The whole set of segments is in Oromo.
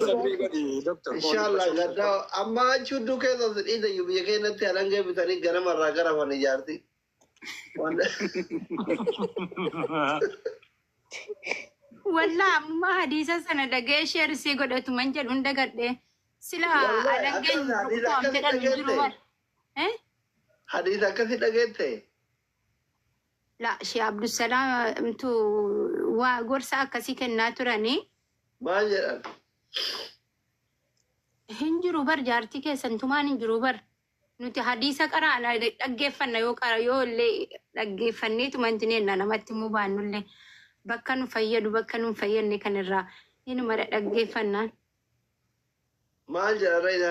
Sabrii godhi Doktar. Inshallah gadda amma achi hudduu keessa si dhiita iyyuu biyya keenyatti halangee bitanii ganama irraa gara afan ijaarti. Wallah amma hadiisa sana dhaga'ee sheer isii godhatu man jedhu hin dagadhe. Sila Wallah, alangeen akkasuma hadiisa rukutaan akkasii fedhan hin jiru dhageette. bar. Eh? Hadiisa akkasi dhageette. La Shee Abdusalaamtu waa gorsa akkasii kennaa turani. Maal jedhan? Hin jiru bar jaartii keessan tumaan hin jiru bar. Nuti hadiisa qaraana dhaggeeffanna yoo qara yoo illee dhaggeeffannee tumanti neenna namatti immoo baannullee bakka nu fayyadu bakka nu hin fayyadne kan irraa inuma dhaggeeffannaan. Maal jedhan Rayna?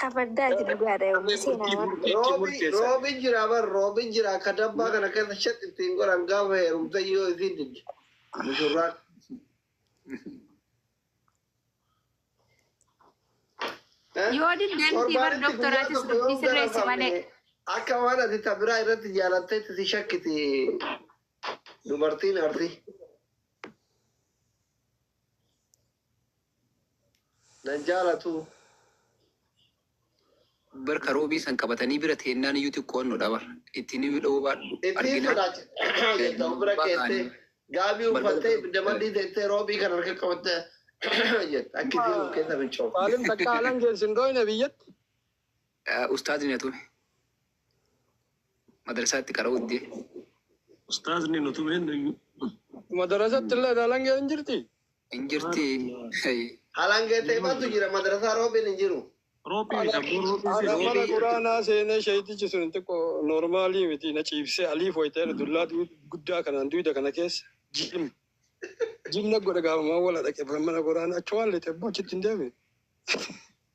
Kabaddaati dhugaadha yoomuu seenaa waan. Roobi roobi jira bar roobi jira akka dabbaa kana keessa shat ittiin godhan gaafa heerumte yoo isiin didde mushurraan. Yoo didde miti bar doktoraatis dubbii sirreessi malee. Akka waan ati tabiraa irratti jaalatteetti si shakkiti dubartiin arsi. Nan jaalatu. Bar ka roobii san qabatanii bira teennaan iyyuu xiqqoon nu dhabar. Itti ni dhawuu baadhu. Itti Arginaa sodaachisa. Jetta of bira keessee gaabii uffattee ibidda maddii teessee roobii kan harka qabattee jetta. Akkitiin of keessa fincoofte. Saalim takka alangeen sin dhooyne biyyatti. Ustaazni na tume. Madrasaatti qara'uu diddee. Ustaazni nu tume nuyyuu. Madarasatti illee halangee hin jirti? Hin jirti. Hey. Halangee ta'e maaltu jira madrasaa roobiin hin jiru. Roobii midha boo roobii Ana seeti. mana quraanaa seenee sheeytichi sun xiqqoo noormaalii miti na ciibsee aliif wayita'e dullaa guddaa kanaan duyda kana keessa jim jim na godhe gaafamaa wala dhaqe mana quraanaa achumaan lixee boo achitti hin deeme.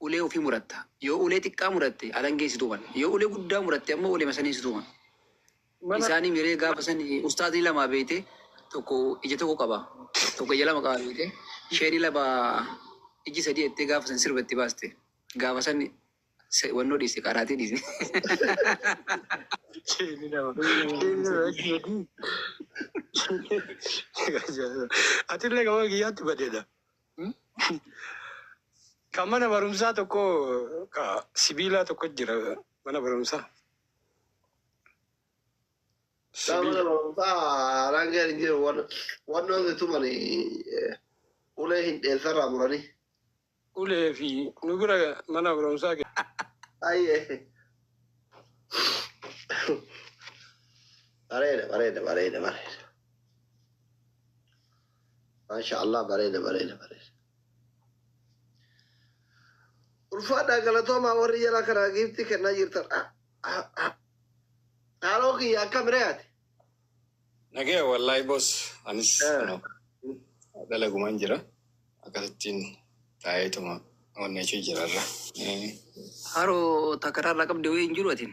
Ulee ufii muratta. Yoo ulee xiqqaa muratte alangeen si tuman. Yoo ulee guddaa muratte ammoo uleema saniin si tuman. Mana. Isaanii miree gaafa san ustaazni lamaa beeyte tokko ija tokko qaba tokko ija lama qaba beeyte sheeyni lama ijji sadii jettee gaafa san sirba itti baaste gaafa san se- wannoo dhiiste qaraatii dhiiste. Sheeyni lama. Sheeyni lama ijji sadii. Atillee gama kiyyaatti badeedha. Kan mana barumsaa tokko ka sibiilaa tokko jira mana barumsaa. Daa mana Sibiila. barumsaa haaraan gadi hin jiru wan- wannoon si tumani eh, ulee hin dheessarraa muranii. Ulee fi nu bira mana barumsaa ke- Ayyee. Bareeda bareeda bareeda bareeda. Maasha Allah bareeda bareeda bareeda. Ulfaadhaa galatoomaa warri jala kanaa giiftii kennaa jirtan. Ah, ah, ah. Haaloo kiyya akkam ree ati? Nagee wallahi boss anis Eh. no, dalagumaan jira akkasittiin taa'eetuma onnee ishee jirarra. Eh, Haroo takaraarraa qabde wayii hin jiru atiin.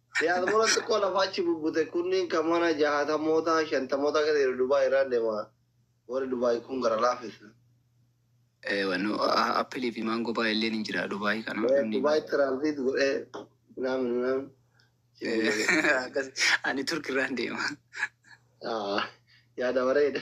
Diasporan xiqqoo lafa achi bubbute kunniin kan mana jahatamootaa, shantamootaa keessa jiru Dubai irraan deema. Warri Dubai kun gara laafessa. Ee wanno appilii fi maangoo baay'illeen hin jira Dubai kana. Ee namni- Dubai transit godhee naamin naamin. Akkas- Ani Turk irraan deema. Ah, yaada bareeda.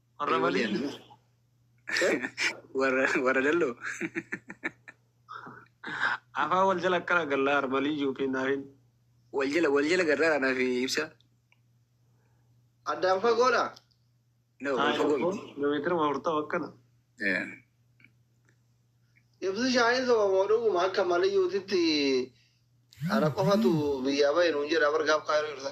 Warra malii? Warra warra dalloo. Afaan wal jala akkana gallaa armalii yookiin naafin. Wal jala wal jala garraa naaf ibsa. Addaan fagoodha. No, wal fagoo miti. Kilomeetira afurtama akkana. Eh, Ibsi shaayii sobamoo dhuguma akka maliyyuutitti ana qofatu biyyaa bahe nuun jedha bargaaf kaayiruu irra.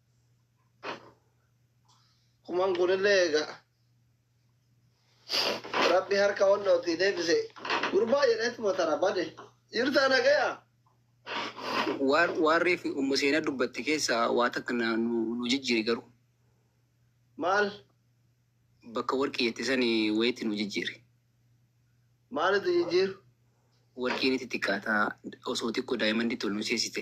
kuman kunillee egaa rabbi harka wallootii deebise gurbaa jedheetuma tana bade jirtaa nagaya Waan waan reefi ummu seenaa dubbatte keessaa waa takka na- nu nu jijjiiri garuu maal bakka warqii jette sani wayitti nu jijjiiri. maalitu jijjiiru Warqiin itti xiqqaataa osoo xiqqoo daayimanditti ol nu seesite.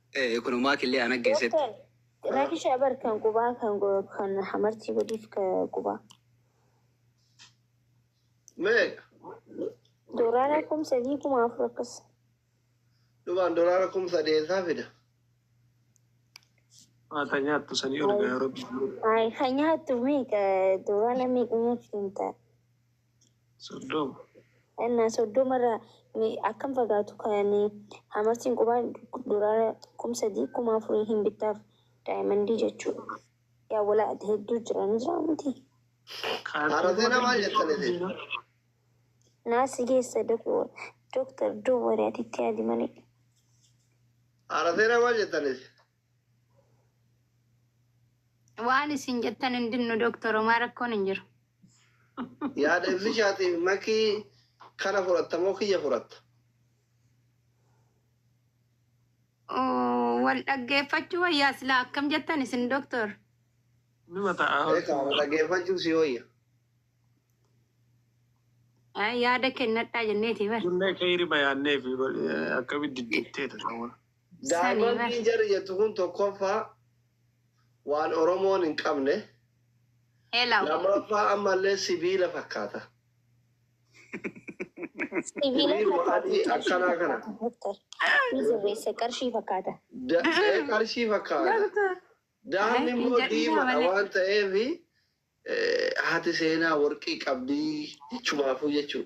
Eh, kuno maa killee ana geessetti. Doktar, rakisha bar kan qubaa kan go- kan hamartii godhiif ka qubaa. Meeqa? Doolaara kum sadii kuma afur akkas. Dhubaan dolaara kum sadeesaa fida. Maa kan nyaattu sanii ol gaa rabbi. Ay, kan nyaattu meeqa doolaara meeqa nyaachuu hin ta'a. Soddoma. Ennaa soddoma irraa mee akkam fagaatu kan hamartiin qubaa dolaara kum sadii kum afurii hin bittaaf daayimandii jechuu yaa wala ati hedduu jira ni jira miti. Kaartizina maal jettan isin? Naa si geessa doktar doo wari ati itti yaadi malee. Kaartizina maal jettan isin? Waan isin jettan hin dinnu Dooktor Homaa rakkoon hin jiru. Yaada ibsichaatiif makii kana fudhatta moo kiyya fudhatta? Oo, Wal dhaggeeffachuu wayyaa silaa akkam jettan isin Dooktor? Numa ta'a. Eegaa wal dhaggeeffachuu si wayya. Ay, Yaada kennadhaa jenneeti bar. Kunnee keeyri bayaannee fi akkamitti diddiittee dha. Daayimandiin jarri jettu kun tokkoffaa waan Oromoon hin qabne, lammaffaa ammallee sibiila fakkaata. Sibiiluma adii akkanaa kana. Qarshii fakkaata. Qarshii fakkaata. Daamni immoo diimadha waan ta'eef Haati seenaa worqii qabdii jechumaafuu jechuu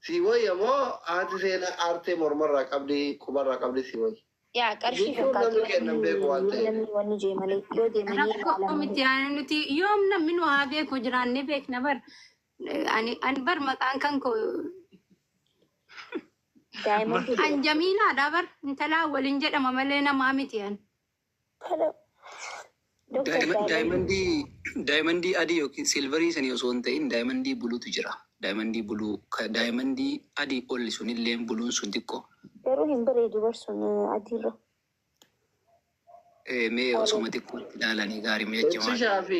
sii woyya moo haati seenaa aartee mormarraa qabdii qubarraa qabdii sii woyya? Yaa qarshii Jechuun namni fakkaatu kennan beeku waan ta'eef. namni wanni jee malee yoo deemanii Rakkoo ilaalamanii miti ani nuti yoom namni nu haa beeku jiraannee beekna bar ani ani bar maqaan kan koo daa'imman an jamiilaadha bar intalaa waliin jedhama malee namaa miti ani. Kana Dr. Daayima- Daayimand. daayimandii daayimandii adii yookiin silvarii sanii osoo hin ta'in daayimandii buluutu jira daayimandii buluu ka daayimandii adii olli sunillee buluun sun xiqqoo Garuu hin bareedu barsuun adiirra. Eh, mee osoma xiqqootti ilaalanii gaarii mee jajjamaa Beeksishaa fi